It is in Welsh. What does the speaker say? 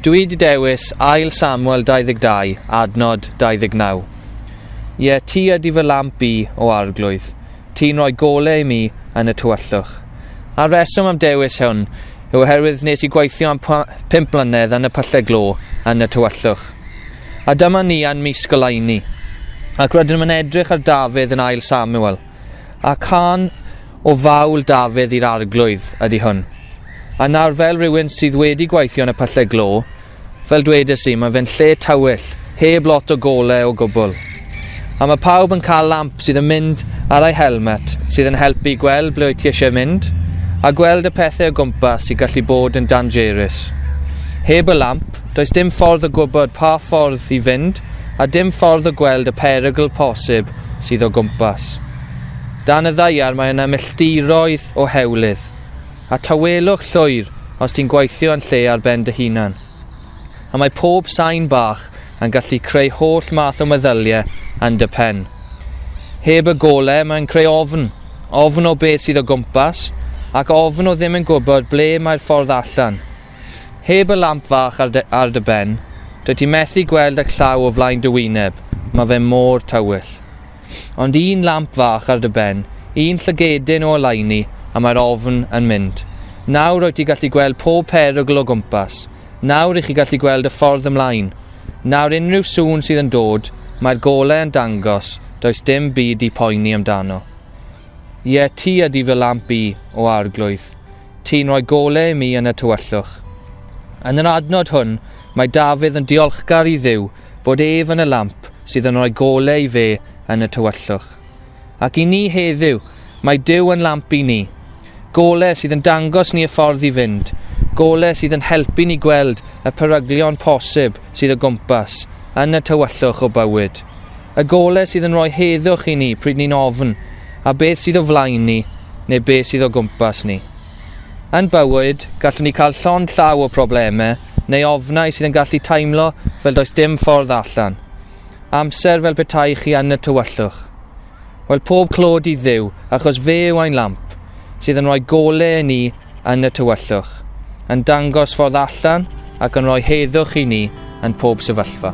Dwi wedi dewis ail Samuel 22, adnod 29. Ie, ti ydy fy lamp i o arglwydd. Ti'n rhoi gole i mi yn y tywyllwch. A'r reswm am dewis hwn yw oherwydd nes i gweithio am 5 mlynedd yn y pyllau glo yn y tywyllwch. A dyma ni yn mis goleuni, ac rydym yn edrych ar Dafydd yn ail Samuel, a can o fawl Dafydd i'r arglwydd ydy hwn. A nawr fel rhywun sydd wedi gweithio yn y pyllau glo, fel dwedais i, mae fe'n lle tywyll, heb lot o gole o gwbl. A mae pawb yn cael lamp sydd yn mynd ar ei helmet, sydd yn helpu i gweld ble wyt ti eisiau mynd, a gweld y pethau o gwmpas sy'n gallu bod yn dangerus. Heb y lamp, Does dim ffordd o gwybod pa ffordd i fynd a dim ffordd o gweld y perygl posib sydd o gwmpas. Dan y ddaiar mae yna milltiroedd o hewlydd, a tawelwch llwyr os ti'n gweithio yn lle ar ben dy hunan. A mae pob sain bach yn gallu creu holl math o meddyliau yn dy pen. Heb y gole mae'n creu ofn, ofn o beth sydd o gwmpas, ac ofn o ddim yn gwybod ble mae'r ffordd allan. Heb y lamp fach ar dy, ar dy ben, dwyt ti methu gweld y llaw o flaen dy wyneb, mae fe mor tywyll. Ond un lamp fach ar dy ben, un llygedyn o oleuni, a mae'r ofn yn mynd. Nawr rwyt ti gallu gweld pob perygl o gwmpas. Nawr i chi gallu gweld y ffordd ymlaen. Nawr unrhyw sŵn sydd yn dod, mae'r golau yn dangos, does dim byd i poeni amdano. Ie, ti ydi fy lamp i, o arglwydd. Ti'n rhoi golau i mi yn y tywyllwch. Yn yr adnod hwn, mae Dafydd yn diolchgar i Dduw fod ef yn y lamp sydd yn rhoi golau i fe yn y tywyllwch. Ac i ni heddiw, mae Duw yn lamp i ni. Golau sydd yn dangos ni y ffordd i fynd, golau sydd yn helpu ni gweld y peryglion posib sydd o gwmpas, yn y tywyllwch o bywyd. Y gole sydd yn rhoi heddwch i ni pryd ni'n ofn, a beth sydd o flaen ni, neu beth sydd o gwmpas ni. Yn bywyd, gallwn ni cael llond llaw o problemau, neu ofnau sydd yn gallu teimlo fel does dim ffordd allan. Amser fel petai chi yn y tywyllwch. Wel, pob clod i ddiw, achos fe yw ein lamp, sydd yn rhoi gole i ni yn y tywyllwch, yn dangos ffordd allan ac yn rhoi heddwch i ni yn pob sefyllfa.